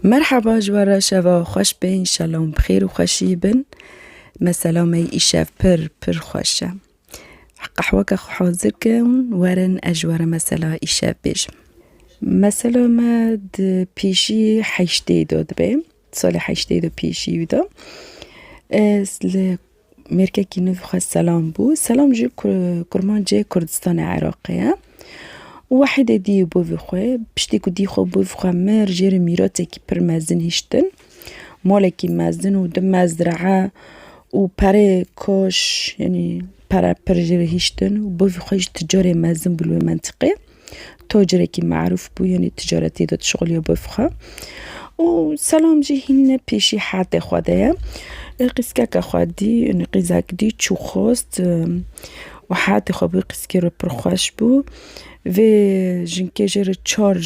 Merhaba ji we re şeva xweş be înşallah hûn bi xêr û xweşî bin. Mesela me îşev pir pir xweş e. Qehweke xwe hazir ke hûn werin ez ji we re mesela îşev bêjim. Mesela me di pêşî heştê de dibe, salê heştê de pêşî wî de. Ez li Mêrkekî nû xwe Selam bû. Selam ji kurmancê Kurdistanê Iraqê ye. Wahîdê dî bo vî xwe. Piştî ku dî xwe bo vî xwe mir jê re mîratekî pir mezin hiştin. Malekî mezin û du mezraa û perê koş yanî pere pir jê re hiştin û bo vî xwe ji ticarê mezin bû li wê mentiqê. Tacirekî merûf bû yanî ticaretê de dişuxiliya bif xwe û selam jî hînîne pêşî herdê xwe de ye. Qîzkeke xwe dî yanî qîzek dî çû xwest û herdê xwe bû qîzkê re pir xweş bû. Vê jinkê jê re çar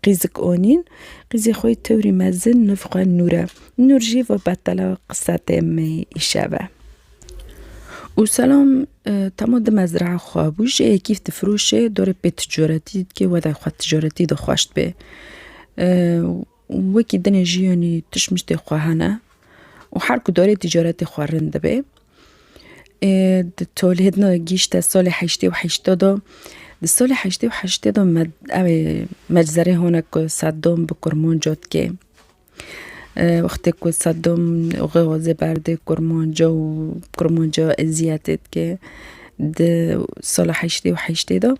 qîzik anîn. Qîzê xwe yê tewrî mezin niv xwe Nûr e. Nûr jî va betala qise tê me îşev e û selam Temo di mezrae xwe bû jê kîf difiroşê dorê pê ticaretî dikê wede xwe ticaretî di xweş dibê. Wekî dinê jiyonî tişt miştê xwe hene û her ku dorê ticaretê xwe rind dibê. Di tolhêdna gîşte salê heştê û heştê de di salê heştê û heştê de me ew ê meczerê hone ku seddan bi kurmanca dikê. Wextê ku Seddom xwezê berdê Kurmanca û Kurmanca eziyetê dike di sala heştê û heştê de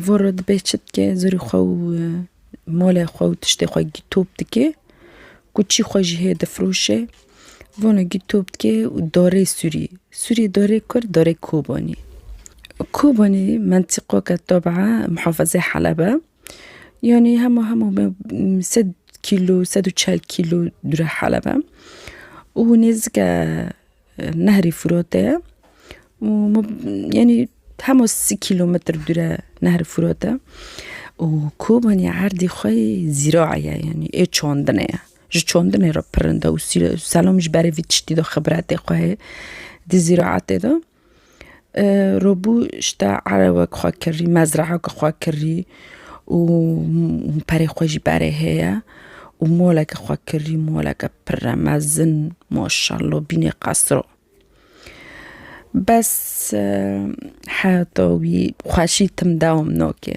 voro dibê çi dike zerrî xwe û malê xwe û tiştê xwe gîtop dike ku çî xwe jî heye difiroşe vano gîtop dike û darê sûrî sûrî darê kur darê Kobanî Kobanî mentîqoke tabaa muhafazê Heleb e. Yanî hema hema me sed kîlo sed û çel kîlo dûre Heleb e û nêzik e nehrê Fûratê ye û min yanî hema sî kîlometr dûr e nehrê Fûrat e û kobanî erdê xwe yê zîraê ye yanî yê çandinê ye ji çandinê re pirin de û selam ji berê vî tiştî de xibretê xwe heye di zîraetê de. Robû şita ere wek xwe kirî mezreyeke xwe kirî û perê xwe jî berê heye û moleke xwe kirî moleke pire mezin maşelo bînê qesro bes heta wî xweşî tim dewam nake.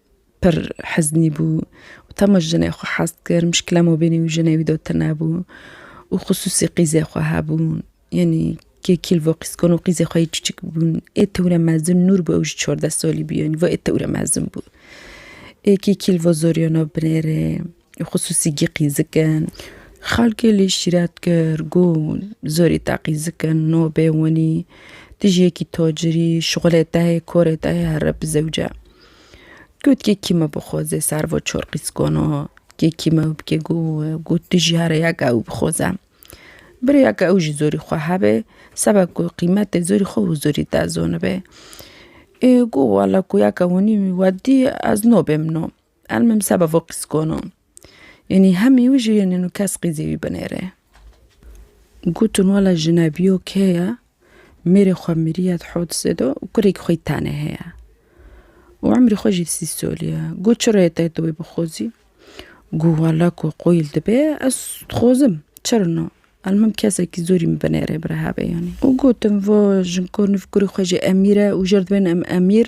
Pir heznî bû û tema jinê xwe hez dikir, muşkile mabênî û jinê wî de tune bû û xisûsî qîzê xwe hebûn. Yanî kê kîlvo qîz kon û qîzê xwe yê çiçik bûn. Ê tewre mezin Nûr bû ew jî çardeh salî bû yanî va ê tewre mezin bû. Ê kê kîlvo zoriyana binêrê. Xusûsî gîqîzik in. Xelkê lê şîret kir ku zorî teqîzik in, no bê winî tu ji yekî tacirî şixulê te hê, korê te hê here bi zewce. Got kê kî me bixwaze ser va çar qîzkana kê kî me bike ku ku tu jî here yek ew bixwaze. Bi rêya ku ew jî zorî xwe hebe sebe ku qîmetê zorî xwe û zorî te zanibe. Ê ku wele ku yeke winî we dî ez nabêm no. Elmim seba vo qîskono. Yenî hemî wî jî yenî nû kes qîzê wî binêrê. Gotin wela jinebîyo kê ye, mêrê xwe mirîye di Hodisê de û kurekî xwe yî tenê heye. Û emrî xwe jî sî solî ye. Got çi reyê te tu wê bixozî? Got wela ku qoyîl dibe ez dixozim. Çir no. Elmim kesekî zorî min binêrê birehevê yenî. Û gotin vo jinko nû kurê xwe jî Emîr e û jir dibên em Emîr.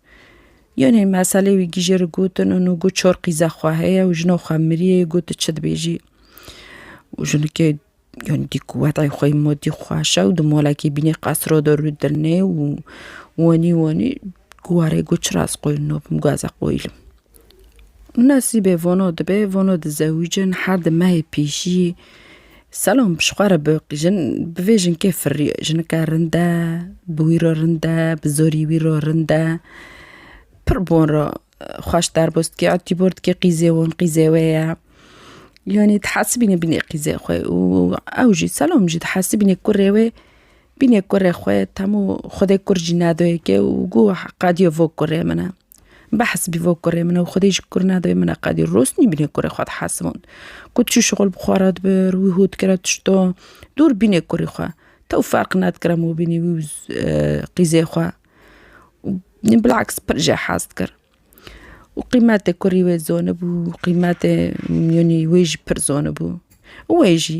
Yonê meselê wî gîjê ri gotin û nû got çor qîze xwe heye û jino xwe miriyê got tu çi dibêjî. Û jinikê yonê dî ku wedayê xwe yê modî xweş e û di molekê bînê qas rode rû dilnê û wenî wenî got çira ez qoyî nobim got ez ê qoyîlim. Û nesîbê vono dibe, vono dizewicin her di mehê pîjî Selom ji xwe re bi jin bi vê jinkê firiye. Jinike rind e, bi wî re rind e, bi zorî wî re rind e. Pir bi wan re xweş derbo dikê a tîbor dikê qîzê wan qîzê wê ye. Yanî dihesibîne bînê qîzê xwe û ew jî Selom jî dihesibîne kurê wê bînê kurê xwe. Temû xwedê kur jî nedoyê ke û goh qediya vo kurê min e. Behs bî vo kurê min ew xwedê ji kur nedibe min e qedî rûst nî bînê kurê xwe dihesibûn. Ku çû şixul bi xwe re dibir wî hûr dikire tişto dûr bînê kurê xwe. Tew ferq nedikire min bînî wî û qîzê xwe. Bilaks pir jê hez dikir. Û qîmetê kurî wê zonibû qîmetê mîyanî wê jî pir zonibû. Wê jî.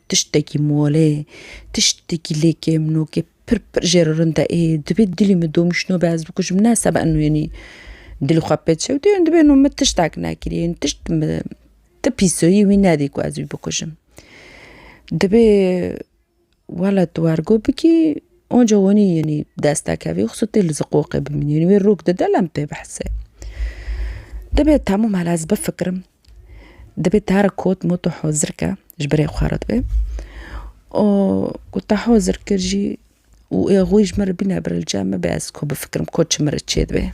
Tiştekî mole, tiştekî lê kêm nokê pir pir jê re rind e. Ê, dibê dilî min domîşno be ez bikujim ne seba eno yenî dilê xwe pê çewtê yenî dibê eno min tiştek nekirî yenî tişt ti pîsoyî wî nedî ku ez wî bikujim. Dibê wela tu wergo bikî onca wenî yenî dest nekevê xwisa tê li ziqoqê bimîne yenî wê rok dide lem pê behse. Dibê temam hela ez bifikirim. Dibê Tarık kot mot tu hozir ke ji birê xwe re dibe. O ku te hozir kir jî û ê xwî ji min re bîne birilce me be ez ku bifikirim ku çi min re çê dibe.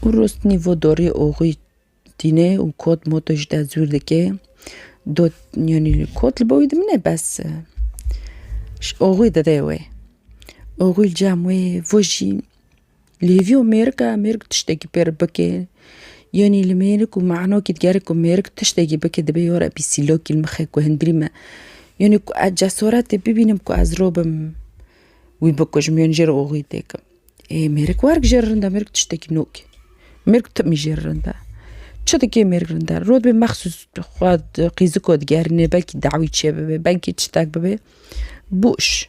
Û rost nîvo dorî û xwî tîne û kot mot ji te zûr dike. Dot yanî kot li bo wî dimine bes ji oxwî dide wê. Oxwî li cem wê vojî Li hêviyo mêrik e, mêrik tiştekî pêr bike. Yanî li mêrik û me'nokî digerê ku mêrik tiştekî bike dibe yora bî sîlokî li mixê ku hundirî me. Yanî ku ez cesoretê bibînim ku ez robim wî bikujim yanî jê re oxî têkim. Ê mêrik werg jê re rind e, mêrik tiştekî nûk e. Mêrik timî jê re rind e. Çi dike mêrik rind e? Rû dibê mexsûs xwe qîziko digerînê belkî dawî çêbibe, belkî çitek bibe. Bûş.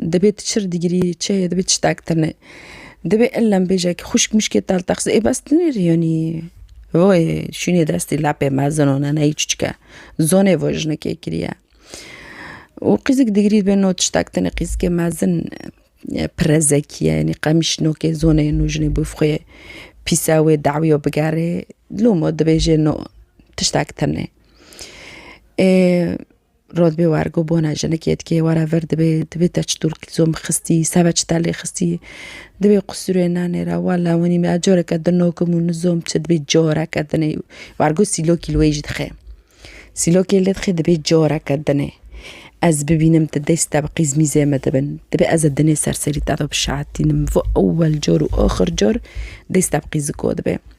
Dibê tu çir digirî, çi dibê tiştek tune. Dibê illem bêjek xwişk mişkê te li te xise ê bes tu nêrîyonî. Wê şûnê destê lepê me zino nana yî çiçik e. Zonê vo jinekê kiriye. Û qîzik digirî dibê no tiştek tune qîzikê mezin pire zekî ye yanî qemîş nokê zonê no jinê bo xwê pîse wê dewîyo bigerê loma dibêjê no tiştek tune. Ê Rod bê wergo bona jinikê dikê were vir dibê dibê te çi dûr zom xistî seve çi te lê xistî dibê qusûrê nenê re wa la winî me careke din nokim û nizom çi dibê careke dinê wergo sîlokî li wê jî dixê sîlokê lê dixê dibê careke dinê ez bibînim tu dest te bi qîz mîzê min dibin dibê ez ê dinê ser serî te de bişehetînim ewel car û axir car dest te bi qîziko dibê.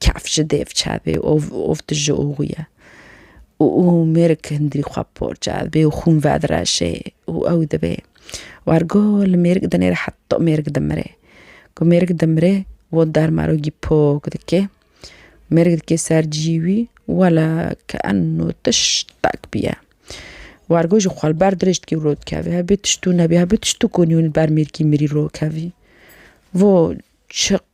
Kef ji dêv çavê û tu ji oxû ye. Û mêrik hindirî xwe bi por çavê û xûn vedireşê û ew dibê. Wergo li mêrik dinêre heta mêrik dimire. Ku mêrik dimire û dermarogî pok dike, mêrik dike ser cî wî wele ke enû tiştek bûye. Wergo ji xwe li ber dirêj dikê û dikeve hebê tiştû nebê hebê tiştû ku nî li ber mêrikî mirî rokevî. Vo çi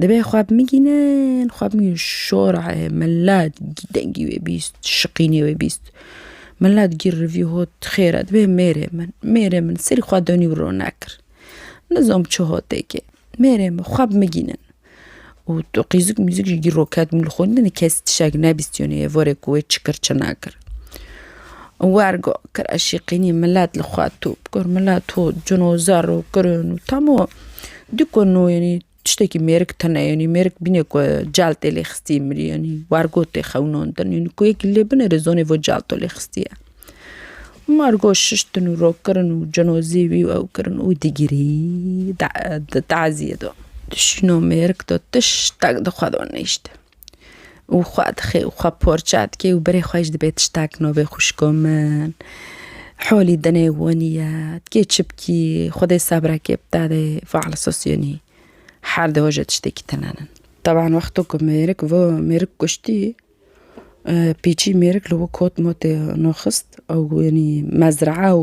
Divê xwe bimigînin, xwe bimigînin şorayê mela dî dengî wê bîst, şiqînê wê bîst. Mela digî rivî hot xêr e divê mêrê min, mêrê min serî xwe donî û rona kir. Nizom çi hotêkê mêrê min xwe bimigînin û tu qîzik mîzik jî dî roket min li xwe nîne kes tişek nebîstîne ye vorê ku wê çi kir çi nakir. Wer got, Kir eşîqînî milet li xwe tû bikir, milet ho cin û zer û kirin û temo dî ku no yenî tiştekî mêrik tune yenî mêrik bîne ku cel tê lê xistî mirî yenî wer got tê xewnandin yenî ku yekî lê binêrê zonê vo celto lê xistiye. Mar got şiştin û rokirin û cin û zî wî û ew kirin û digirî di taziyê de dişîno mêrik de tiştek di xwe de nihişte. û xwe dixê û xwe porça dikê û berê xwe jî dibê tiştek navê xwişko min holî dinê wanî ye dikê çipkî xwedê sebrekê bide dê fal sosyonî her di hoje tiştekî tune nin. Taban wexto ku mêrik vo mêrik kuştî pîçî mêrik li wi kot motê nû xist ew wanî mezraa û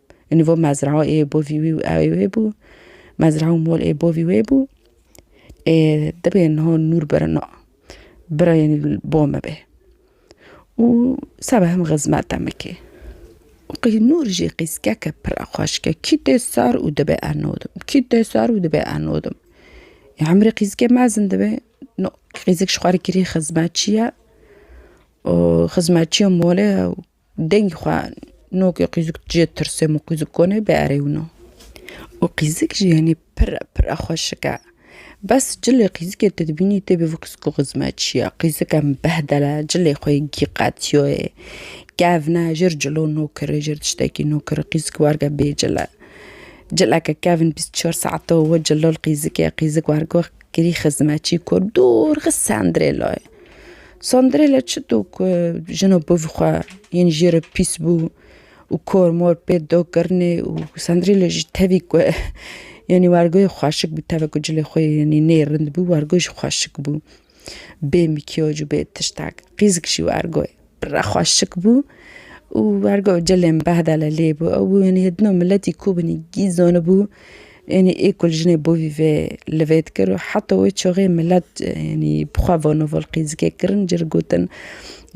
Û nivo mezra ê bo vî wî û ewê wê bû. Mezra û mol ê bo vî wê bû. Ê dibê niha nûr birina. Bira yenî li bo me be. Û seba hem xizmete min kê. Û qî nûr jî qîskeke pir a xweşke. Kî tê sar û dibe eno dim. Kî tê sar û dibe eno dim. Ê hemûrê qîzikê mezin dibe. No qîzik ji xwe re kirî xizmetçi ye. Û xizmetçiya mole ye. Dengê xwe nokê qîzik cê tirsê min qîzik konê bê erê wina. Û qîzik jî yanî pire pire xweşik e. Bes cilê qîzikê tu dibînî tê bivî qîziko xizme çi ye. Qîzike min behdel e, cilê xwe yê gî qetiyoyê. Kevne jir cilo nokirê jir tiştekî nokirê qîzik warge bê cil e. Cileke kevn bîst çar saeto we cilo li qîzikê qîzik wargo kirî xizmetçî kor dûr xist sendirê layê. Sandrêla çi do ku jina bi vî xwe yên jê re pîs bû û kor mor pê do kirinê û Sandrêla jî tevî ku yanî wergoyê xweşik bû tevek ku cilê xwe yanî nê rind bû wergo jî xweşik bû. Bê mîkyaj û bê tiştek qîzik jî wergo ye. Pira xwe şik bû û ergo cilên behda li lê bû. Ew bû yanî hêdino miletî ku binî gîz donibû yanî ê ku li jinê bo vî vê li vê dikir û heta wê çaxê milet yanî bi xwe ve noval qîzikê kirin ji gotin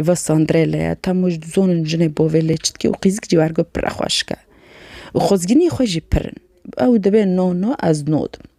va Sandrê li ye tam ji zonin jinê bo vê lê çi dikê û qîzik jî ergo pira xwe şik e û xwezgînî xwe jî pir in. Ew dibe no no ez no dim.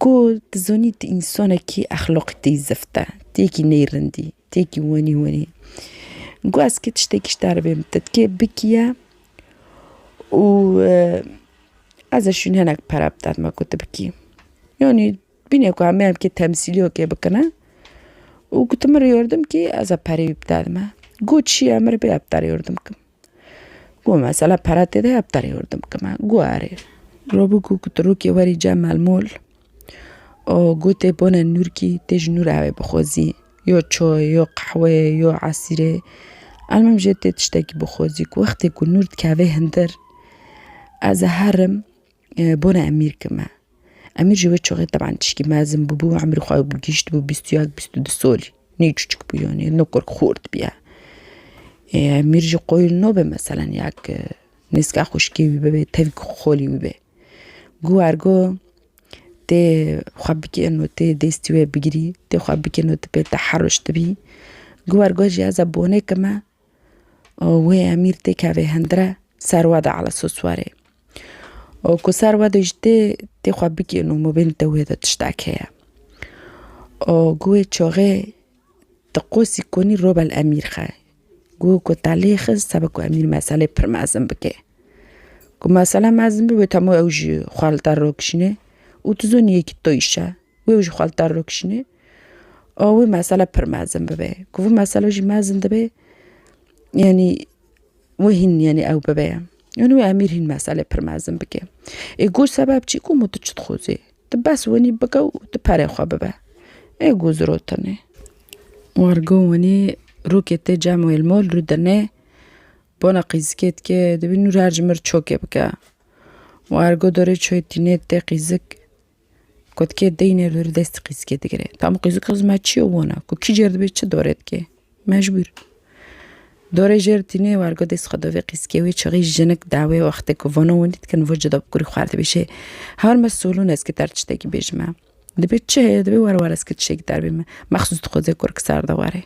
Ku tu zonî tu însanekî exloqî te yî zift e, tu yekî nêrind î, tu yekî wenî wenî yî. Ku ez kê tiştekî ji te re bê min te dikê bikiye û ez ê şûnê hinek pere bide dima ku tu bikî. Yanî bîne ku em ê em kê temsîliyeke bikine û ku tu min re yardim kî ez ê pereyê wî bide dima. Ku çi ye min re bêde bide re yardim kim. Got mesela pere tê de ya bi terê hurdim bikima. Got erê. Ro bû ku kutirokê werî cem melmûl û got tê bone nûrkî tê ji nûra wê bixwezî yo çay yo qehwê yo esîrê almîm jê tê tiştekî bixwezî ku wextê ku nûr dikeve hundir ez ê herim Bona Emîr ki me. Emîr ji wê çixê teban tişkî mezin bûbû emrî xwe gihîştibû bîst û yek bîst û du solî. Nê çûçik bû yanî no kurk xort bûye. Emîr ji qoyil nabe meselen ya ki nêzika xwişkê wî bibe tevî ku xolî wî be. Goh wer goh tê xwe bikê no tê dêstî wê bigirî tê xwe bikê no tê pê te herijtibî. Goh wer goh jî ez a bonê ki me. û wê emîr tê kevê hindire ser we de ala sos were û ku ser we de jî tê tê xwe bigihîn û mabên te wê de tiştek heye û ku wê çaxê di qosî konî robel emîr xe ku ku te lê xis sebe ku emîr meselê pir mezin bike ku mesele mezin be wê temû ew jî xwe li der rok şîne û tu zonî yekî to îşe wê û ji xwe li dar rûkişînê û wê mesele pir mezin bibe. Ku vî mesele jî mezin dibe yanî wê hîn yanî ew bibe ye. Yanî wê emîr hîn meselê pir mezin bike. Ê ku sebeb çi ku tu çi dixwazî? Tu bes wenî bike û tu perê xwe bibe. Ê ku zirotin e. Wergo wenî rûkê tê cem wê li mol rûdine bona qîzikê dike dibîn nû her ji mir çokê bike. Wergo dorê çuyê tîne tê qîzik. Kotkê deynê li destê qîzikê digire. Tam qîzik xizm me çi yo wona ku kî cêr dibe çi dorê dike. Mecbûr. Dorê jêr tîne wergo dest xwe dovê qîzikê wê çixî jinik dawê wextê ku vano wendî dikin vo cuda bi kurî xwar dibê şê. Her me solûn ez ki ter tiştekî bêjime. Dibê çi heye dibê were were ez ki tiştekî ter bîme. Mexsûs dixwaze kurkisar de were.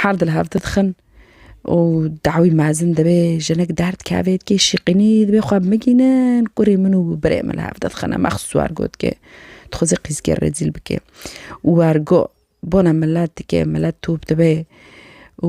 Her di li hev didixin û dawî mezin dibê jinik derd kevê dikê şîqînî dibê xwe bimigînin kurê min û birê min li hev didixine me xist wergo dikê dixwazê qîzkê rêzîl bikê wergo bona milet dikê milet top dibê û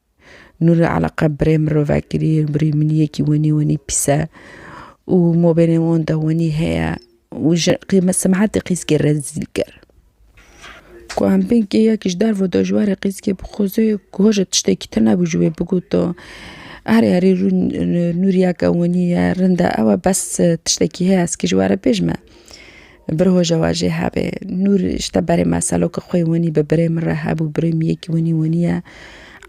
Nûrê Eleqe birê mirovekirî ye, birê miniyekî wenî wenî pîs e û mobêlên wan de wenî heye û ji qîme simehetê qîzkê rezîl kir. Ku em bên keyekî ji derve de ji warê qîzkê bixwaze ku hoja tiştekî tune bû ji wê bigota. Herê herê rûn nûriyeke wenî ye, rind e ew e bes tiştekî heye ez kê ji we re bêjme. Bi roja we jê hebê. Nûr ji te berê me seloka xwe yê wenî bi birê min re hebû, birê min yekî wenî wenî ye.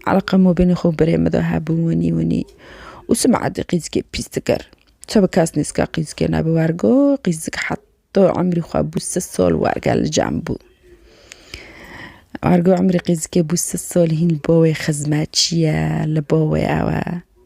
Eleqa mobîlê xwe birê min de hebû wenî wenî û sima edî qîzikê pîs dikir. Çi bi kes nêzika qîzikê ne bi wer got, qîzik heta emrî xwe bû sid sal werger li cem bû. Wer got emrî qîzikê bû sid sal hîn li bo wê xizmetçi ye, li bo wê ew e.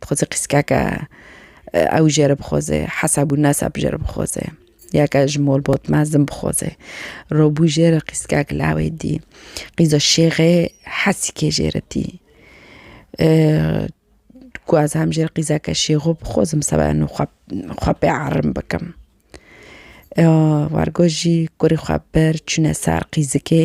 Dixweze qîskeke ew jê re bixweze, hesab û nesab jê re bixweze. Ya ke ji molbot mezin bixweze. Robû jê re qîskek lawê dî. Qîza şêxê hesikê jê re tî. Ku ez hem jê re qîzeke şêxo bixwazim seba no xwe xwe pê erin bikim. Wargo jî kurê xwe bir çûne ser qîzikê.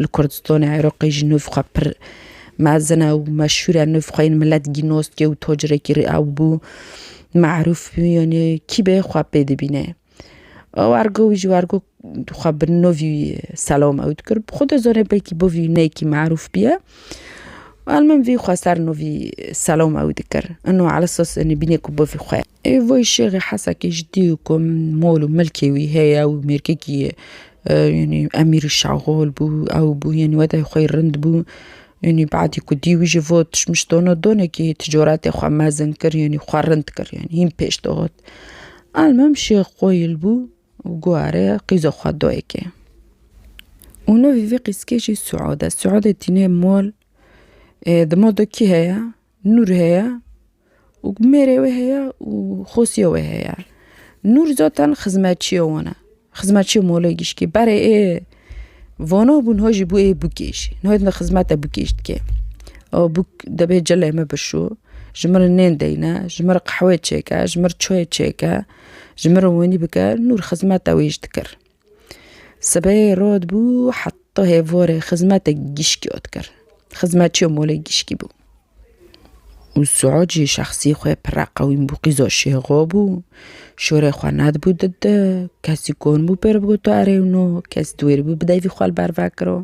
Li Kurdistanê Iraqê jî nûv xwe pir mezin e û meşhûr e. Nûv xwe yên milet gînostiye û tacirêkî rê ew bû. Me'rûf bû yanî kî bê xwe pê dibîne. Wergo wî jî wergo xwe bi nûv wî selam ew dikir. Xwe dizane belkî bo vî neyekî me'rûf bûye. Elmim vî xwe ser nûv wî selam ew dikir. Ino ala esas bîne ku bo vî xwe ye. Ê vay şêxê hesekê ji dîyû ku mol û milkê wî heye û mêrgekî yanî emîrî şaxol bû ew bû yanî wede xwe rind bû yanî badî ku dîyû ji bo tişmiş dono donekî ticaretê xwe mezin kir yanî xwe rind kir yanî hîn pêş dihat. Elmim şêx qoyil bû û got are qîza xwe dayikê û navê vê qîzkê jî Suad e. Suadê tîne mol dima de kî heye? Nûr heye û mêrê wê heye û xosiyê wê heye. Nûr zaten xizmetçiyê wan e. Xizmetçiyê molê gişkî. Berê ê vana bûn ha jî bû ê bûkê jî. Niha din xizmete bûkê jî dike. A bûk dibê cilê min bişo, ji min re nên deyne, ji min re qehweyê çêke, ji min re çayê çêke, ji min re wenî bike, Nûr xizmeta wê jî dikir. Sibehê rod bû heta hêvorê xizmetek gişkî ot kir. Xizmetçîyo molê gişkî bû. Û Suud jî şexsî xwe pire qewîm bû qîzo şêxo bû. Şorê xwe nedibû di di. Kesî konbû pê re bigoto erê wino. Kesî di wê re bû bi devî xwe li ber vekiro.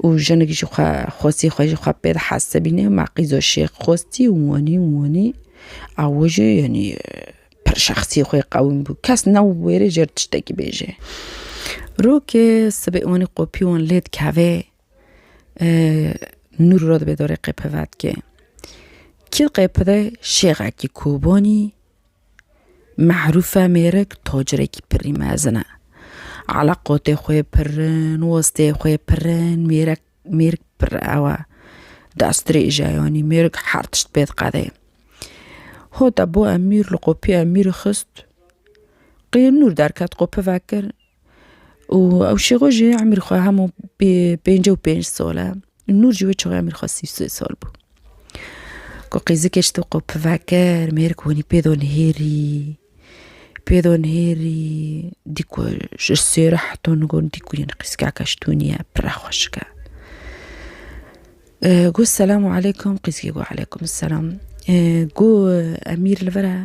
û jinik jî xwe xwestî xwe jî xwe pê dihes dibîne ma qîzo şêx xwestî û wanî û wanî ew jî yanî pir şexsî xwe qewim bû kes ne wêrê jê re tiştekî bêje rokê sibê wanî qopî wan lê dikeve nûr re dibê dorê qepe vedike kî qepide şêxekî kobanî Mehrûfe mêrik tacrekî pirî mezin e. Ala qotê xwe pirin, westê xwe pirin, mêrek mêrik pir ew e. Destrêje yanî mêrik her tişt pê diqede. Hota bo emîr li qopî emîrê xist, qê nûr derket qopi vekir, û ew şêxo jî emîr xwe hemû pênc û pênc sal e nûr jî wê çaxê emîr xwe sî sê sal bû ku qêzikê ji te qopve kir mêrik hûnî pê do nihêrî pê do nihêrî dî ku ji sêre heta nû got dî ku yene qîzgeheke ji tûnî ye pire xweşik e got selamu eleykum qîzgê got eleykum selam got emîr li vir e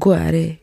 got erê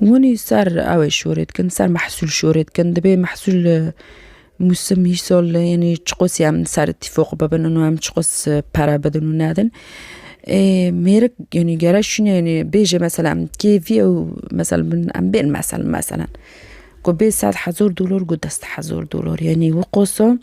Hûnî ser ew ê şûrê dikin ser mehsûl şûrê dikin dibê mehsûl mûsim îsal yanî çiqas em li ser tîfoq bibin û em çiqas pere bidin û nedin ê mêrik yanî gere şûnê yanî bêje mesela em kêfî ew mesel bin em bên mesel meselen ku bê sed hezar dolar ku dest hezar dolar yanî wê qasa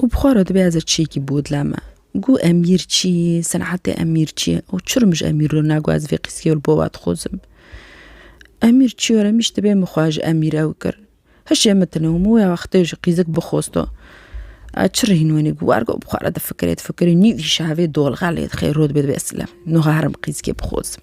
û bi xwe re dibe ez ê çiyekî bodle me. Gu Emîr çi ye, senetê Emîr çi ye û çi re min ji Emîr re na gu ez vê qîseyê li bo we dixwazim. Emîr çi were min ji dibê min xwe ji Emîr ew kir. Hişê min tune û min wê wextê ji qîzik bixwesta. Ez çi re hîn wenî gu wergo bi xwe re difikirê difikirê nîvîşe hevê dolxelê dixê rû dibê dibê ez silemê. Niha herim qîzikê bixwazim.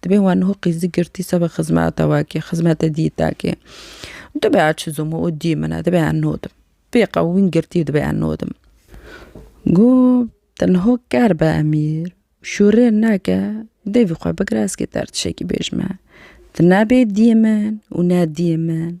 Dibê wan niho qîzî girtî seba xizmeta we kê, xizmeta dîta kê. Dibê a çizum o dî min e, dibê a nodim. Pê qewimîn girtî dibê a nodim. Got, te niho ker be Emîr, şûrê neke, devî xwe bigire ez kê te tişekî bêjme. Ti ne bê dî min û ne dî min.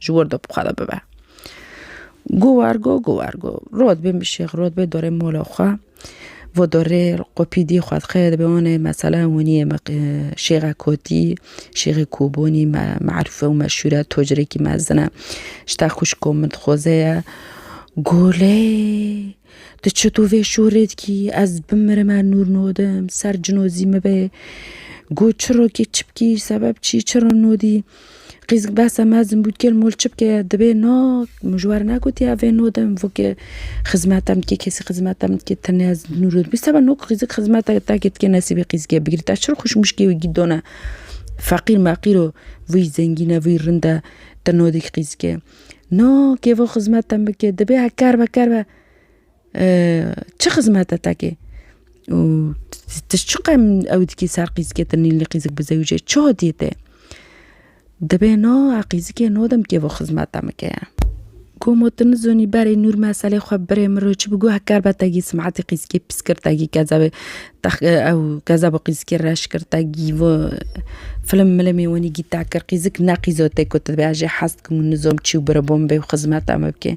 ji wir de bixwe de bibe. Got war got got war got. Rot bê min şêx rot bê dorê mola xwe. Vo dorê qopîdî xwe dixê dibê wanê mesela winiyê me şêxa kotî, şêxê kobonî me merûfe û meşûre tocirekî mezin e. Ji te xwişko min dixoze ye. Got lê tu çito vê şûrê dikî ez bimirime nûr nodim ser cinozî min bê. Got çirokê çi bikî sebeb çi çiro nodî. Qîz behsa mezin bû kêl mol çi bike dibê no min ji wan negotiye ev ê no de min vokê xizmeta min dikê kesî xizmeta min dikê tenê ez nûro dibî seba no qîzik xizmeta tekê dikê nesîbê qîzikê bigirî te çi xweş mişkê wî gîdone feqîr meqîr o vî zengîn e vî rind e te no dikî qîzikê no kêvo xizmeta min bikê dibê heke erbe kerbe Çi xizmet e tekê? Û ti çi qem ew dikî ser qîzikê ti nîlnî qîzik bi zewicê çi hotiyê tê? Dibê no a qîzikê no dem kêvo xizmet te min keye. Gomo ti nizonî berê nûr meselê xwe birê min re çi bi goh ker be te gî simetî qîzikê pîs kir te gî kezebê tex ew kezebo qîzikê reş kir te gî vo filim milimê wenî gî te kir qîzik ne qîzo tê ku ti dibê ez jê hez dikim û nizom çi û biri bo min bê û xizmet te min bikê.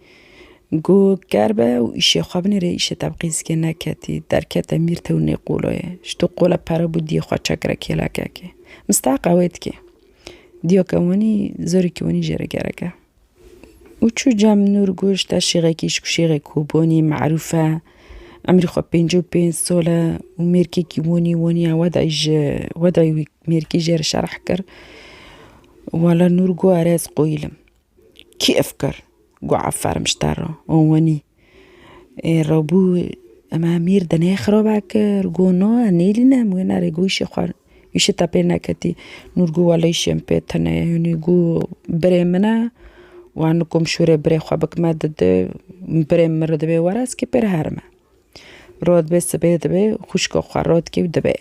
Go ker be û îşê xwe binê rê îşê te bi qîzikê neketî, derkete mîr tew nêqoloye. Ji to qole pere bû diyê xwe çek re kêlekekê. Mistaqa wê dikê. Diyoke wenî zorîkî wenî jê re gerek e. Û çû cem Nûr goş te şêxekî ji ku şêxê Kobonî, Merûf e. Emrî xwe pêncî û pênc sal e û mêrkekî wenî wenî ye we dayî ji we dayî wî mêrkî jê re şerh kir. Wele Nûr go ere ez qoyîlim. Kî ev kir? Got Effer Mişter ra. Got wenî. Ê Rebû em Emîr di nê xirabe kir? Got na em nêlîne em wê nerê. Got îşê xwe îşê te pê neketî. Nûr got wele îşê min pê tune ye. Hûnî got birê min e wan nikom şûrê birê xwe bikime di di birê min re divê were ez kê pê re herime. Rod bê sibê dibê xwişka xwe rod kê û dibê.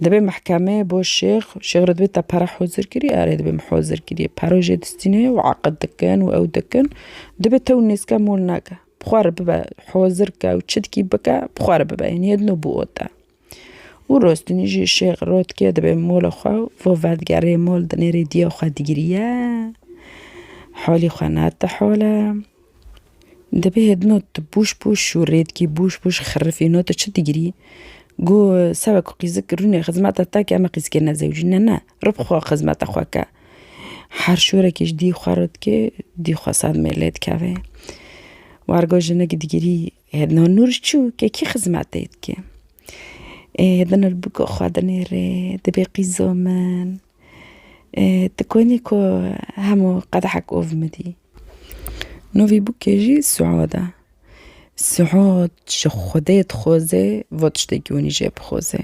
Dibê mehkeme bo şêx, şêx re dibê te pere hozir kirî, erê dibê min hozir kirî. Pere jê distîne û eqid dikin û ew dikin. Dibê te û nêzke mol neke. Bi xwe re bibe hozir ke û çi dikî bike bi xwe re bibe. Yanî yedno bû ota. Û rostinî jî şêx rotkê dibê mola xwe û vo vedigerê mol dinêrî diya xwe digiriye halî xwe nate hal e. Dibê hêdino tu bûş bûş û rêdkî bûş bûş xirifîno tu çi digirî? Go seba ku qîzik rûnê xizmeta te ke me qîzikê nezewicî ne ne rib xwe xizmeta xwe ke. Her şorekê ji dî xwe re dikê dî xwe sedmê lê dikevê. Wargo jinik digirî Hedna Nur çû ke kî xizmetê dike? Ê hedna li bûka xwedinê rê dibê qîzo min. Ê ti konî ku hemû qedehek ov midî. No vî bûkê jî Suad e. Suad ji Xwedê dixwaze va tiştekî hûnî jê bixwaze.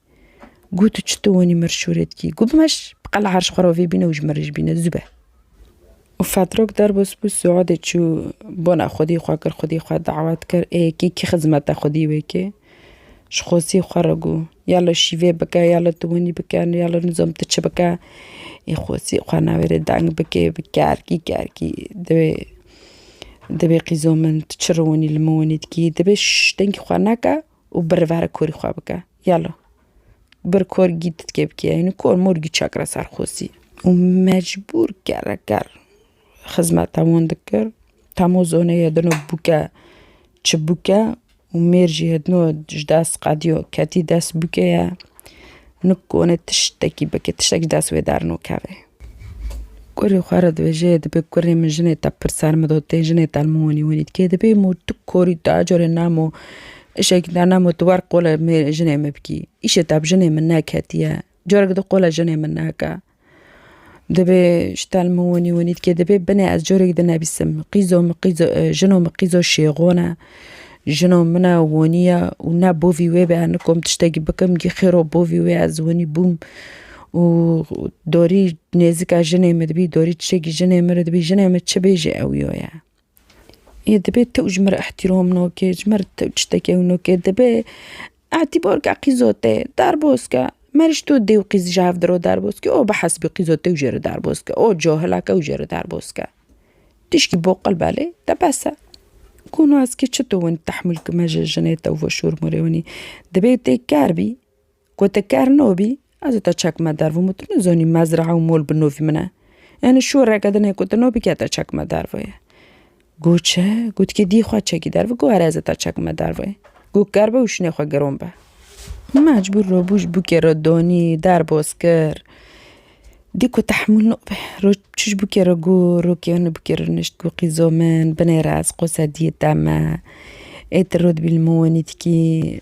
Gu tu çi tu wenî mir şûrê dikî? Gu bimeş bi qela herş xwe rovê bîne û ji mirî jî bîne zû be. Û Fedrok derbas bû Suadê çû bona xwedî xwe kir xwedî xwe dawet kir ê kî kî xizmeta xwedî wê kê? Ji xwesî xwe re gu ya li şîvê bike ya li tu wenî bike ya li nizam tu çi bike ê xwesî xwe navêrê deng bikê bi kerkî kerkî divê divê qîzo min tu çi ri wenî li min wenî dikî divê şş dengî xwe neke. û bi rivera korî xwe bike. Yelo, bir kor gî ditkê bikê hînî kor mor gî çakre ser xosî. Û mecbûr kereker xizmeta wan dikir. Temo zonê hedino bûke çi bûke û mêr jî hedino ji dest qediyo ketî dest bûkê ye. Nikone tiştekî bike, tiştek ji dest wê dernokeve. Kurê xwe re dibêje dibê kurê min jinê te pir ser min do tê jinê te li min winî winî dike dibê mû tu korî tu her carê namo îşekî te namo tu wer qolê mêrê jinê min bikî îşê te bi jinê min neketiye careke din qolê jinê min neke. Dibê ji telm û winî winî dikê dibê binê ez corekî dinivîsim qîzo min qîzo jino min qîzo şêxon e jino min e winî ye û ne bo vî wê be niko min tiştekî bikim gî xêro bo vî wê ez winî bûm û dorî nêzika jinê min dibî dorî tiştekî jinê min re dibî jinê min çi bêjê ew yo ye. Yê dibê tu ji min re îhtîrom nake, ji min re tu tiştekê ew nake, dibê îtîbarke qîzote derbas ke. Mer ji to dê û qîz ji hev di re derbas ke, o bi hesibê qîza te jê re derbas ke, o cahila ke ew jê re derbas ke. Tişkî boqil belê te bes e. Ku nas ke çi tu winî tehmûl kime ji jinê te û veşormûrê winî. Dibê tê ker bî. Ku tu kerno bî, ez û te çekme derve û min tu nizanî mezrae û mol bi novî min e. Yanî şoreke din heye ku tu nabî ke te çekme derve ye. Got çi? Got kê dî xwe çekî derve got erê ez ê te çekme derve ye. Got ker be û şinê xwe giron be. Mecbûr rabû ji bûkê re danî, derbas kir. Dî ku tehmûl nabe. Roj çû ji bûkê re got, rokê min li bûkê re nişt got qîzo min binêre ez qosediyê te me. Ê tu rot bî li min wenî dikî.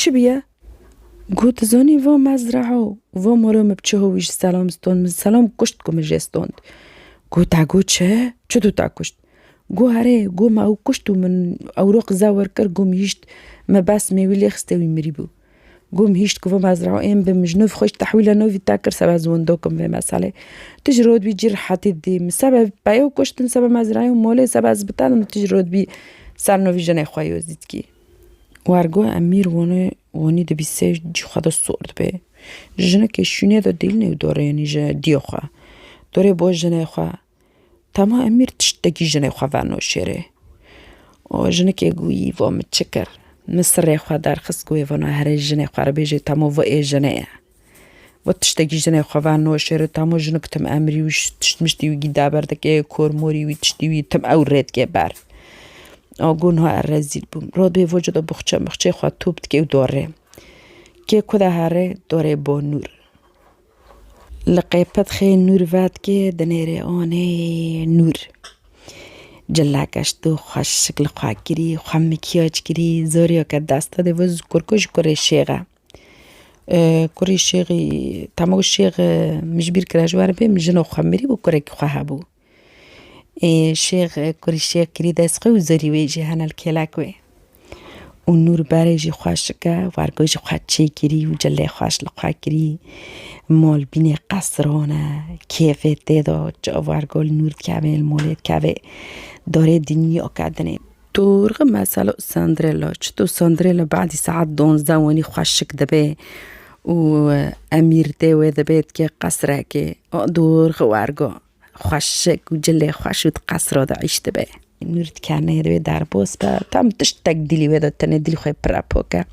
Çi biye? Got tu zanî va me zreho va mala me bi çi hawî ji selam stond min selam kuşt ku min jê stond. Got te got çi? Çi tu te kuşt? Got herê got me ew kuşt û min ew ra qize wer kir got min hîşt me bes me wî lê xiste wî mirî bû. Got min hîşt ku va me zreho ên bi min ji nav xwe ji tehwîla navî te kir sebe ez wenda kim vê meselê. Tu ji ra dibî cî rehetî didî min sebe peya kuştin sebe me zreyê û malê sebe ez bi te dim tu ji ra dibî ser navî jinê xwe yo zî dikî. Wergo em mîr wonê wonî di bîsê cî xwe de sor dibe. Jinekê şûnê de dîlnê û dorênî ji dîyê xwe. Dorê bo jinê xwe. Tema em mîr tiştekî jinê xwe verno şêrê. O jinekê guyî vo min çi kir? Min sirê xwe derxist ku wê vana herê jinê xwe re bêjê temo vo ê jinê ye. Wê tiştekî jinê xwe ve noşêrê tamo jinik tim emrî wî tişt miştî wî gîda ber dike yê kor morî wî tiştî wî tim ew rê dike ber. A gu niha er rezîl bûm. Ro bê voca de bixçe mixçeyê xwe top dike û dorê. Kê ku de herê dorê bo nûr. Li qêpet xê nûr ve dike dinêrê anê nûr. Cilla keşt û xwe şikli xwe kirî, xwe mikyaj kirî, zorîya ke desta dê vê kurko ji kurê şêxe. Kurê şêxî tama ku şêx min ji bîr kira ji warê bê min jina xwe mirî bû kurekî xwe hebû ê şêx kurê şêx kirî dest xwe û zerî wê jî hene li kêlek wê û nû li barê jî xweş dike wargo jî xwe çê kirî û cilê xweş li xwe kirî mal bînê qesran e kêfê tê de çi wargo li nû dikevê li malê dikevê darê dinya ke dinê. Tu rixim mesela Sandrella. Çito Sandrella badî saet donzda wenî xweşik dibe û emîr dê wê dibe dike qesrekê. Dûr xiwergo. Xweşik û cilê xweş û di qesra de îş dibe. Nûr dikenê di wê derbas be. Tam tiştek dîlî wê de tenê dîlî xwe pire pok e.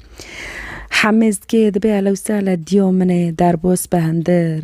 Hemêz dikê dibe elewsele dîya min ê derbas be hindir.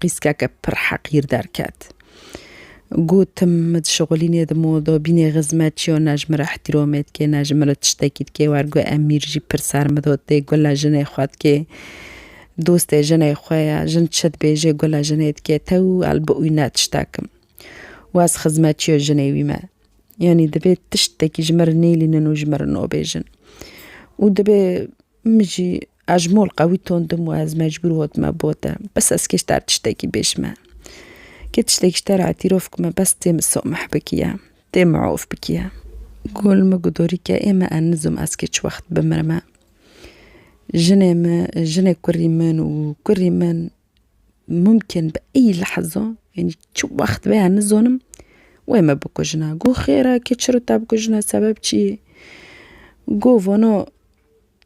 Qîskeke pir heqîr derket. Gotim, min dişixulînê di modo bînê xizmet çi yo ne ji min re îhtîromê dikê ne ji min re tiştekî dikê wer gu Emîr jî pir sermido tê gula jinê xwe dikê. Dostê jinê xwe ye. Jin çi dibêjê gula jinê dikê tew û el bi wî ne tiştekim. Û ez xizmetçî yo jinê wî me. Yanî dibê tiştekî ji min re nêlînin û ji min re nobêjin. Û dibê min jî. Ez mol qewî tund im û ez mecbûr hot me bo te. Bes ez kê ji te re tiştekî bêjme. Kê tiştekî ji te re îtîrof bikime bes tê min someh bikiye. Tê min of bikiye. Gul min got dorî ke ê me ez nizom ez kê çi wext bimirime. Jinê min, jinê kurî min û kurî min mumkin bi ey lehza yanî çi wext be ez nizanim wê me bikujine. Got xêr e kê çi re te bikujine sebeb çi yê? Got vana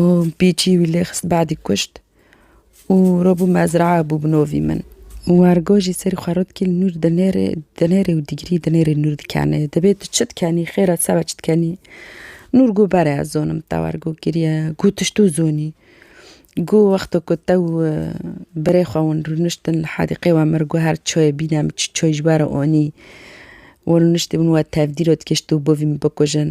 û bî çî wî lê xist badî kuşt û ro bû mezraa bû bi novî min. Wergo jî serî xwe ro dikê li nû dinêrê dinêrê û dîgrî dinêrê nû dikenê. Dibê tu çi dikenî xêr e ti seba çi dikenî? Nûr got bere ez zonim te wergo kiriye got tu ji to zonî. Got wexto ku te û birê xwe hûn rûniştin li hedîqê we mir got her çoyê bîne min çi çoy ji we re onî. We rûniştî min we tevdî ro dikê ji to bovî min bikujin.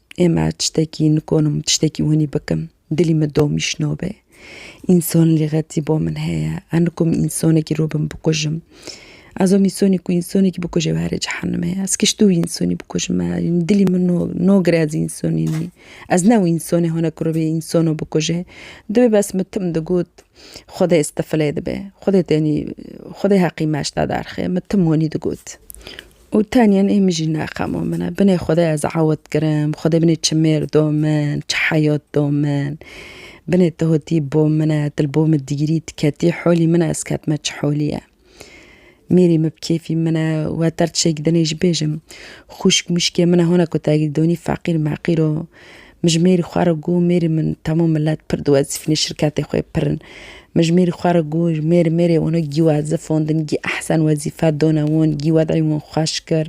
Ema tiştekî nikonim tiştekî winî bikim. Dilî min domî şino be. Însan lîxetî bo min heye. Ez nikom însanekî ro bin bikujim. Ez om însanî ku însanekî bikuje ew herê cehenime ye. Ez kişt û însanî bikujim me. Dilî min no nagire ez însanî nî. Ez ne û însanê hone ku rivê însan bikuje. Divê bes min tim digot xwedê istifilê dibe. Xwedê tenî xwedê heqî me şita derxe. Min tim wanî digot. Û tenyen ê min jî nexemo min e. Binê Xwedê ez ewt kirim, Xwedê binê çi mêr do min, çi heyat do min. Binê tu hotî bo min e, tu li bo min digirî, tu ketî holî min e, ez ketime çi holî ye. Mêrî min bi kêfî min e, weter tiştekî dinê jî bêjim. Xwişk mişkê min e, hona ku te girîdonî feqîr meqîr o, Min ji mêrî xwe re got, Mêrî min temû milet pir diwezîfîne şirketê xwe pir in. Min ji mêrî xwe re got, Mêrî mêrê wino gî wezif hûn din, gî ehsen wezîfe done wûn, gî wed'ey wûn xweş kir.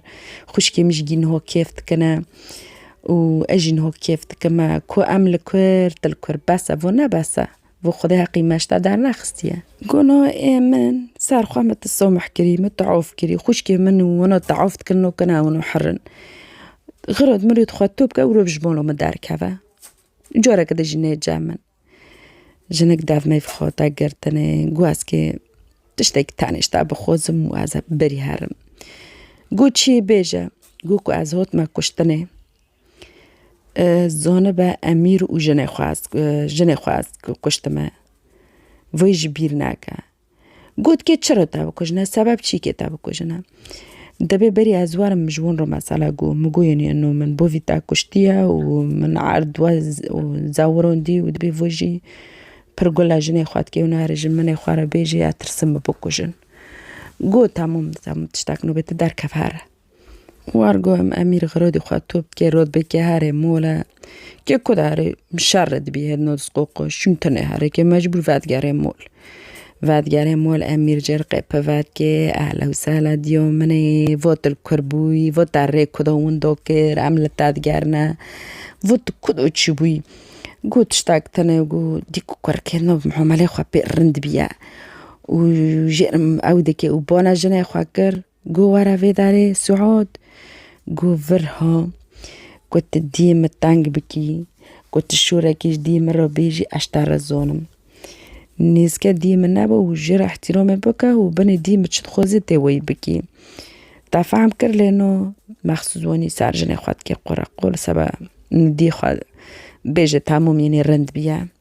Xwişkê min jî gî niho kêf dikine û ez jî niho kêf dikime. Ku em li kur, tu li kur bes e, vûn ne bes e. Bo xwedê heqî me ji te dernexistiye. Gono ê min ser xwe min ti someh kirî, min teof kirî, xwişkê min û wino teof dikin no kena wino herin. Xiro di mirî xwe tu bike wiro bi ji bo min derkeve. Careke din jî nêce min. Jinik dev meyvê xwe dike girtinê, got ez kê tiştekî tenêşte bixwazim û ez ê birî herim. Got çiyê bêje. Got ku ez hot me kuştinê. Zanibe Emîr û jinê xwe ez jinê xwe ez kuştime. Vê jî bîr nake. Got kê çira te bikujine sebep çî kê te bikujine. Dibê berî ez werim ji wan re mesela gû min gû yên no min bo vî te kuştiye û min erd we û zewirandî û dibê vê jî pir gule jinê xwe dikê û nare ji minê xwe re bêjî ez tirsim min bikujin. Got hemû min tiştek nûbê te derkeve here. War guhem Emîr Xerodî xwe top dike rod bike herê mole. Ke ku herê şer re dibî hêd nodis qoqoş çûn tenê herê ke mecbûr vedigerê mol. Vedigerê mol Emîr cêr qepe vedikê ehla û sehla dîyo min ê vo tu li kur bûyî vo te rê ku do windo kir em li te digerine vo tu ku do çûbûyî. Got tiştek tune û dîk ku kurikirina muameleyê xwe pê rind bîye û jêr ew dike û bana jinê xwe kir. Got were vê derê Suud. Got vir ha. Got tu diyê min teng bikî. Got tu şorekî ji diyê min re bêjî ez te rizonim. Nêzike diyê min nebe û ji re îhtîramê bike û binê diyê min çi dixwaze tê weyî bikî. Te fehm kir lê no mexsûs wanî ser jinê xwe dikê qûreqûr seba diyê xwe bêje temûm yênî rind bîye.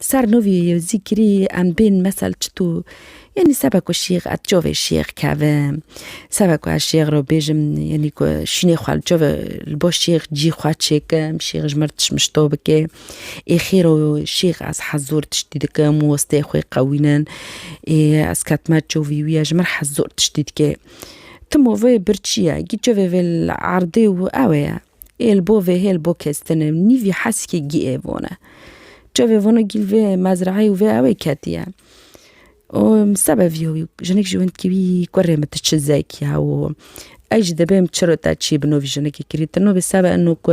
Ser nûvî zîkirî em bên mesel çitû yanî sebe ku şîx ez çavê şîx kevim, sebe ku ez şîx re bêjim yanî ku şînê xwe li çavê li bo şîx cî xwe çêkim, şîx ji min re tişt mişto bike. Ê xêr o şîx ez hez zor tiştî dikim û stê xwe qewînin. Ê ez ketime çavî wî ye ji min re hez zor tiştî dike. Tim û vê bir çi ye? Gî çavê vê li erdê û ew ê ye. Hêl bo vê hêl bo kes tine nî vî heskê gî ê vone. Çavê vone gîl vê mezraeyê û vê ewê ketiye. Û sebe vîyo wî jinik ji win dikî wî kurê min tu çi zek ya û ez jî dibêm çiro te çî bi no vî jinikê kirî. Tu no bê sebe ino ku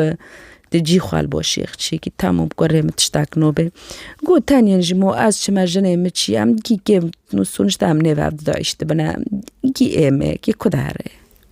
tu cî xwe li bo şêxçî kî tamam kurê min tiştek no bê. Got tenê ji mo ez çime jinê min çî em dikî kêm sonuçta em nêv hev didayîştibine. Kî êmê kî kude re.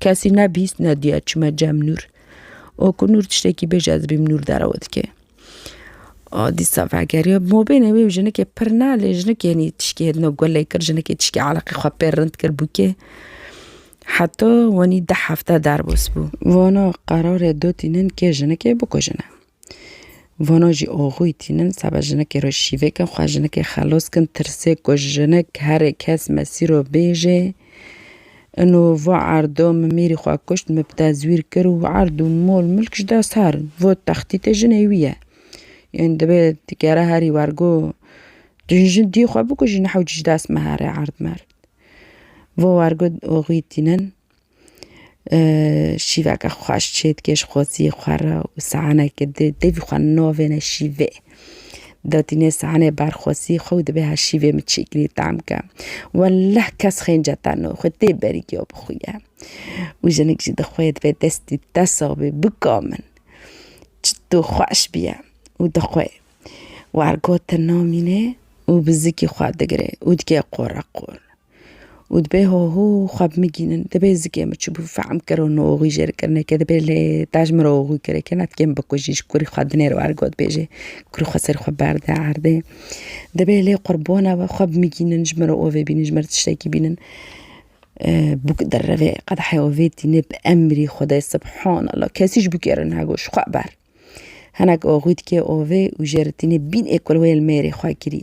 Kesî nebîst nediya çime cem nûr. O ku nûr tiştekî bêje ez bîm nûr derewe dike. O dîsa vegeriya mobêne wê jinekê pir ne lê jinekênî tişkê hedna gulê kir jinekê tişkê eleqê xwe pê rind kir bûkê. Heta wanî deh hefte derbas bû. Vana qerarê dotînin kê jinekê bikujine. Vana jî axûyî tînin seba jinekê re şîvê kin xwe jinekê xelos kin tirsê ku jinik herê kes mesîro bêjê ino va erdo min mêrî xwe kuşt min bi tezwîr kir û erd û mol milk ji dest her in vo textîtê jinê wî ye yên divê ti kere herî wergo tu ji jin diyê xwe bikujî ne hewce ji dest me here erd merd vo wergo axûyî tînin. Şîveke xweş çê dike ji xwezî xwe re û saeneke di devî xwe navêne şîvê. Dadînê saenê berxwezî xwe û dibe her şîvê min çêkirî tam ke. Welleh kes xênce te no xwe tê berî giyo bixwîye. Û jinik jî dixwe dibe destî tesa bê bika min. Çitû xweş bûye û dixwe. Wergotin namîne û bi zikî xwe digire û dike qoreqor. û dibê ho ho xwe bimigînin, dibê zikê min çi bû fehm kir û noxwî jê re kir neke dibê lê dej miroxwî kir eke netikê min bikujî ji kurî xwe dinêr û ergo dibêjê kurî xwe serê xwe berde erdê. Dibê lê qurbona we xwe bimigînin ji mirovê bînin ji mir tiştekî bînin bûk dereve qedeheyê we vê tînin bi emrî xwedayê subhanallah kesî ji bûkê re nagoş xwe ber. Hinek oxwî dikê ovê û jê re tînê bîn ê kulweyê li mêrê xwe kirî.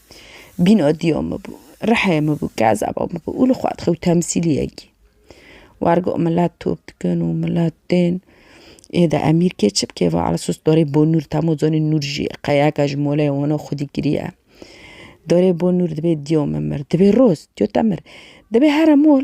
Bînodiyo min bû, rihê min bû, kezebo min bû û li xwe dixwe û temsîlî yekî. Wer got milet top dikin û milet tên ê de emîr kê çi bikê va ala sos dorê bo nûr temo zonê nûr jî qeyeke ji moleyê weno xwedî kiriye. Dorê bo nûr dibê diyo min mir. Dibê roz diyo te mir. Dibê here mol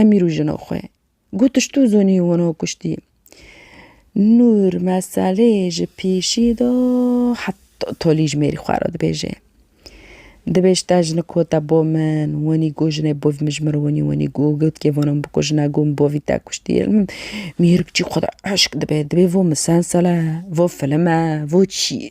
Emîr û jina xwe. Got tu ji tu zonî wana kuştî? Nûr meselê ji pêşî da heta tolî ji mêrî xwe re dibêje. Dibêj te jinik we te bo min, wenî got jinê bo min ji min re wenî wenî got gotkê vana min bikuje ne got min bavî te kuştî. Mêrik çî xwe de eşq dibe, dibê vo misalsel e, vo filim e, vo çi ye?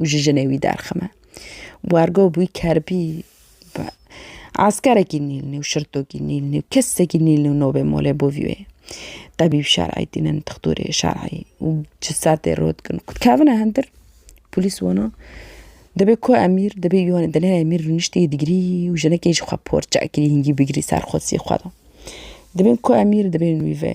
û ji jinê wî derxime. Wergo bûy kerbî eskerekî nîlnî û şirtokî nîlnî û kesekî nîlnî nobê molê bo vî wê. Tebîb şer'î tînin dixtorê şer'î û ji ser tê rot dikin ku dikevine hundir polîs wana dibê ku emîr dibê wan ê dilê emîr rûniştî digirî û jinekê ji xwe porçe kirî hingî bigirî ser xwesî xwe de. Dibên ku emîr dibên wî ve.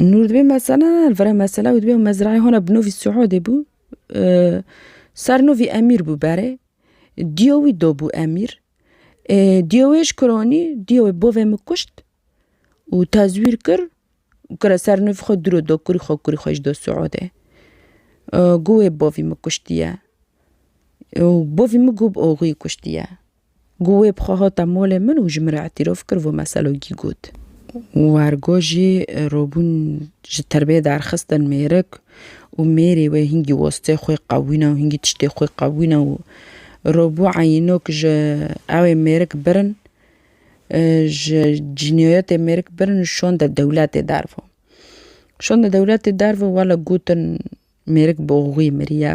Nûr dibê mesela li vir e mesela ew dibê mezrayê hona bi navê Suhudê bû. Sernavê Emîr bû berê. Diya wî dabû Emîr. Diya wê ji kir anî, diya wê bavê min kuşt û tezwîr kir û kira sernavê xwe dûr da kurî xwe, kurî xwe jî da Suhudê. Goyê bavê min kuştiye. Bavê min gob axuyê kuştiye. Ku wê bi xwe hate malê min û ji min re îtîrof kir vê meselogî got. Wergo jî robûn ji terbiyê derxistin mêrik û mêrê wê hingî wastê xwe qewîne û hingî tiştê xwe qewîne û robû eyînok ji ewê mêrik birin ji cînayetê mêrik birin û şonde dewletê derve. Şonde dewletê derve wele gotin mêrik bi oxuyê miriye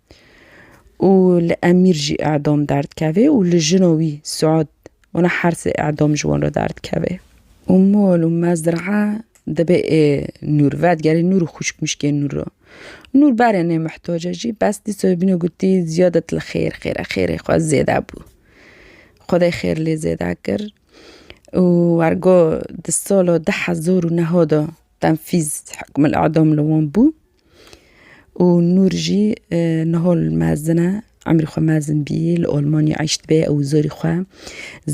û li emîr jî edam derdikevê û li jina wî Suad wana hersê edam ji wan re derdikeve. Û mal û mezd re dibe ê Nûr vedigerê Nûr û xwişk mişkên Nûr re. Nûr berê nê mihtace jî bes dîsa bîne gotî ziyadet li xêr xêre xêrê xwe zêde bû. Xwedê xêr lê zêde kir û ergo di sala du hezar û neha de tenfîz hukmul edam li wan bû. Û Nûr jî niha li mezin e, emrî xwe mezin bî, li Almanya eyş dibe ew û zorî xwe.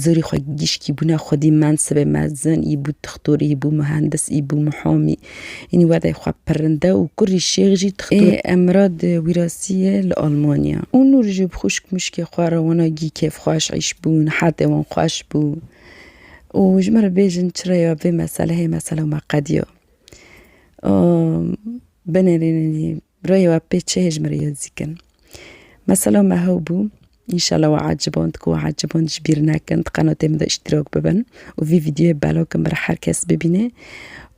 Zorî xwe gişkî bûne xwedî mensibê mezin, î bû dixtor, î bû mihendis, î bû mihamî. Înî wedeyê xwe pirrinde û kurî şêx jî dixtor. Ê Emrad wîrasî ye li Almanya. Û Nûr jî bi xwişk mişkê xwe re wana gî kêfxweş eyş bûn, hetê wan xweş bû. Û ji me re bêjin çira ya vê meselehê, mesela me qediya. Binêrînî rêyê we pê çi hêjmêrê ye dikin? Mesela me hew bû, înşela we eciband ku we eciband ji bîr nekin, di qenatê min de îştîrak bibin û vî vîdyoyê belav bikin bila her kes bibîne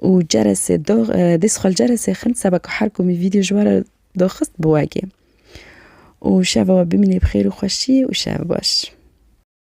û cerese dax dê sixwe li cerese xin seba ku her komî vîdyo ji we re daxist biwegê û şeva we bimîne bi xêr û xweşî û şev baş.